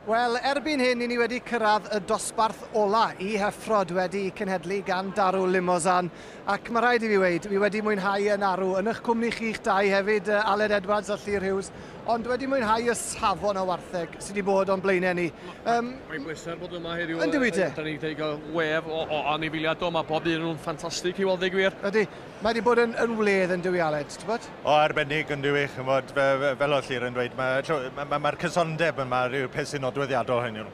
Wel, erbyn hyn, i ni wedi cyrraedd y dosbarth ola i Heffrod wedi cenhedlu gan Daru Limousin. Ac mae rhaid i fi weid, fi wedi mwynhau yn arw, yn eich cwmni chi'ch dau hefyd, Aled Edwards a Llyr Hughes, ond wedi mwynhau y safon o wartheg sydd wedi bod o'n blaenau ni. Um, Mae'n bleser bod yma heddiw. Yn dwi te? Da ni wedi cael wef o, o anifiliadau, mae bob un nhw'n ffantastig i weld ei gwir. Ydy. Mae wedi bod yn, yn wledd yn dyw Aled, ti'n bod? O, arbennig yn dyw i, chymod, fe, fe, fel o'r llir yn dweud, mae'r ma, ma, ma cysondeb yma rhyw peth sy'n nodweddiadol hyn yw'n.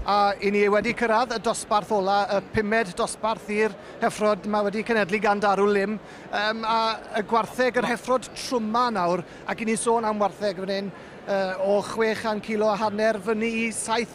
A i ni wedi cyrraedd y dosbarth ola, y pumed dosbarth i'r heffrod, mae wedi cenedlu gan Darw Lym, um, a y gwartheg, yr heffrod trwma nawr, ac i ni'n sôn am wartheg fan hyn, uh, o 600 kilo a hanner fyny i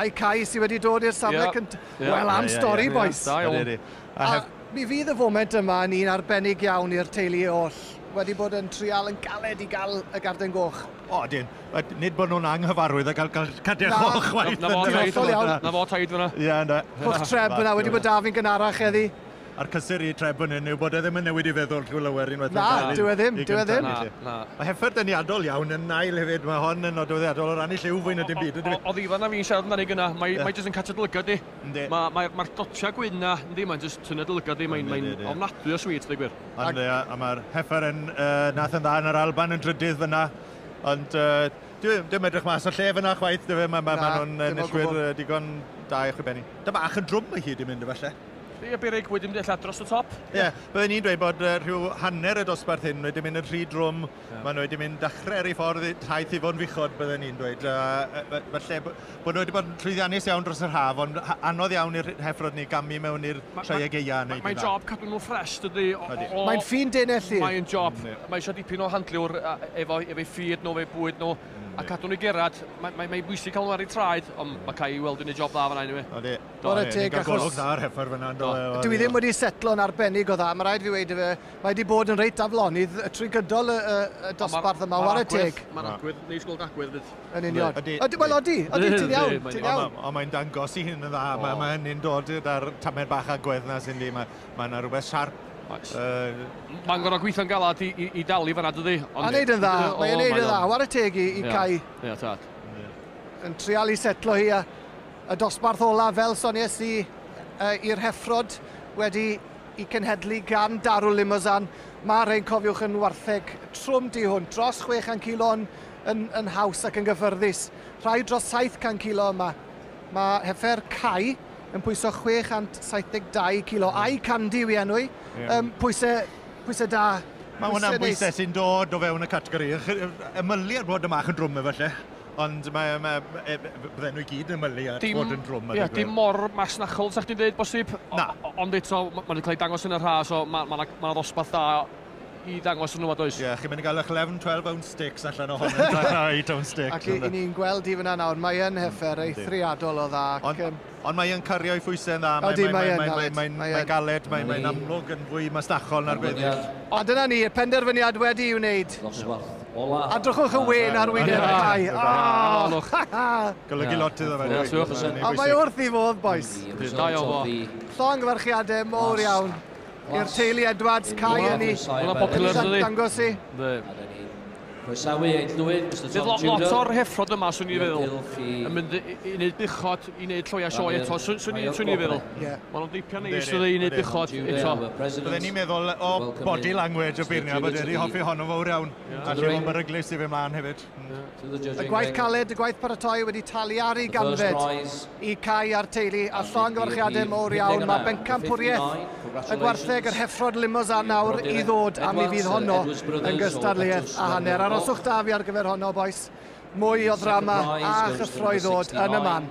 A'i cais i wedi dod i'r safle yeah. cyntaf. Yeah. Wel, am yeah, stori, yeah, boys. Yeah, yeah, yeah. A, have... mi fydd y foment yma yn un arbennig iawn i'r teulu oll. Wedi bod yn trial yn galed i gael y garden goch. O, dyn. Nid bod nhw'n anghyfarwydd a gael cadech o chwaith. Na fo taid fyna. Ie, na. Hwch treb yna, wedi bod da fi'n gynharach eddi. A'r cysur i Treb fan hyn yw bod e ddim yn newid ei feddwl drwy lawer unwaith mae'n cael ei... Na, dyw e ddim, dyw e ddim. Na. Mae Heffern deniadol iawn yn ail hefyd, mae hon yn nodweddiadol o ran ei lliw fwy na dim byd, yndyfe? Oddi fan'na fi'n siarad amdani gynna', mae mae jyst yn catio dy lygad di. Yndi. Ma' mae'r mae'r dotia' gwyn 'na, yndi, mae'n jyst tynnu dy lygad di, mae'n mae'n ofnadwy o sweet, deu gwir. Ond ia, a ma'r Heffern yy nath yn dda yn yr Alban yn drydydd fan'na, ond yy dyw e ddim edrych mas o'r lle fan'na chwaith, dyfe, ma' ma' ma' nhw'n enillwyr yy digon da i chwibennu. Ty' bach yn drwm o hyd i mynd efalle. Ie, Berig wedi mynd eitha dros y top. Ie, yeah. byddwn ni'n dweud bod uh, rhyw hanner y dosbarth hyn wedi mynd yn rhy drwm, yeah. maen nhw wedi mynd dachrau ar ei ffordd taith i fod yn fuchod, byddwn ni'n dweud. Uh, falle bod nhw wedi bod yn llwyddiannus iawn dros yr haf, ond anodd iawn i'r heffrod ni gamu mewn i'r treueg eia. Mae'n ma, ma job cadw nhw ffres, dydy. Mae'n ffyn denellu. Mae'n job, mm, yeah. mae eisiau dipyn o handliwr efo, efo ffyd nhw, efo bwyd nhw, mm, a cadw nhw i gerad. Mae'n mae, mae bwysig cael nhw ar ei traed, ond mm. mae cael ei weld yn ei job dda fan hyn i mi. Bore teg, achos... Ni'n cael golwg dda ar Heffer fanna, yn do? Dyw hi ddim wedi setlo'n arbennig o dda, mae rhaid fi weud i fe. Mae wedi bod yn reit aflonydd trwy gydol y, y, y dosbarth yma, ware teg. Mae'r agwedd, neu sgol agwedd fydd. Yn union. Ydy. Ydy, wel odi, odi, ti'n iawn, ti'n iawn. Ond mae'n dangos i hyn yn dda, mae, mae hynny'n dod gyda'r tamed bach agwedd na sy'n di, mae, mae yna rhywbeth siarp. Uh, mae'n gorau gweithio'n galad i, i, i dalu fanna, dydy? Ond... A wneud yn dda, mae'n wneud yn dda, ware teg i, i Cai. Ie, tad. Yn trial i setlo hi a Y dosbarth olaf, fel sonies i, i'r heffrod, wedi i cenhedlu gan Darul Limousin. Mae'r rhein, cofiwch, yn wartheg trwm du hwn, dros 600 kilo yn, yn, yn haws ac yn gyffyrddus. Rhai dros 700 kilo yma. Mae heffer Cai yn pwyso 672 kilo, a'i Candy yw i enw i. Yeah. Um, pwysau, pwysau da. Mae hwnna'n bwysau sy'n dod o fewn y categori. Ymylu ar fod y mach yn drwm efallai. Ond mae, mae, e, bydden nhw i gyd yn ymylu at dim, fod yn drwm ar yeah, Dim mor masnachol, sa'ch ti'n dweud, bosib. Na. Ond eto, mae wedi cael ei dangos yn y rhas, so mae yna ma, ddosbarth da i ddangos yn nhw, does? Ie, yeah, chi'n mynd i gael eich 11, 12 ounce sticks allan o hon, yn rhai ounce sticks. Ac i, ni'n gweld i fyna nawr, mae yn hyfer, mm, eithriadol o dda. Ond, Ond mae yn cario'i phwysau'n dda. Odi, mae yn galed. Mae'n galed, mae'n amlwg yn fwy masnachol na'r gweddill. A dyna ni, y penderfyniad wedi'i wneud. A drychwch y wên ar wyneb y cae. Aww! Golygu lot iddo fe. Ie, siwr. Ond mae wrth ei fodd, bois. Ydy, da iawn ddo. Llongyfarchiadau mowr iawn i'r teulu Edwards, Cai, Yni. Hwnna'n popular, yndydi? Dangos i. Yndi. Croesawu Eid Lwyd, Mister Tom Tudor. Bydd lot, lot o'r heffrod yma, swn i'n feddwl, yn mynd i, i wneud buchod, i wneud lloia sioe eto, swn i'n feddwl. Yeah. Maen nhw'n deipio neis, dwi i wneud buchod eto. Byddwn ni'n meddwl o body language o beirniau, bod wedi hoffi honno fawr iawn. A lle mae'n beryglus i fe mlaen hefyd. Y gwaith caled, y gwaith paratoi wedi talu ar ei ganfed. i Cai a'r teulu a llongyfarchiadau mowr iawn. Mae bencampwriaeth y gwartheg yr heffron Limousin nawr i ddod a mi fydd honno yn gystadleuaeth a hanner. Aroswch da fi ar gyfer honno bois. Mwy o ddrama a chyffro i ddod yn y man.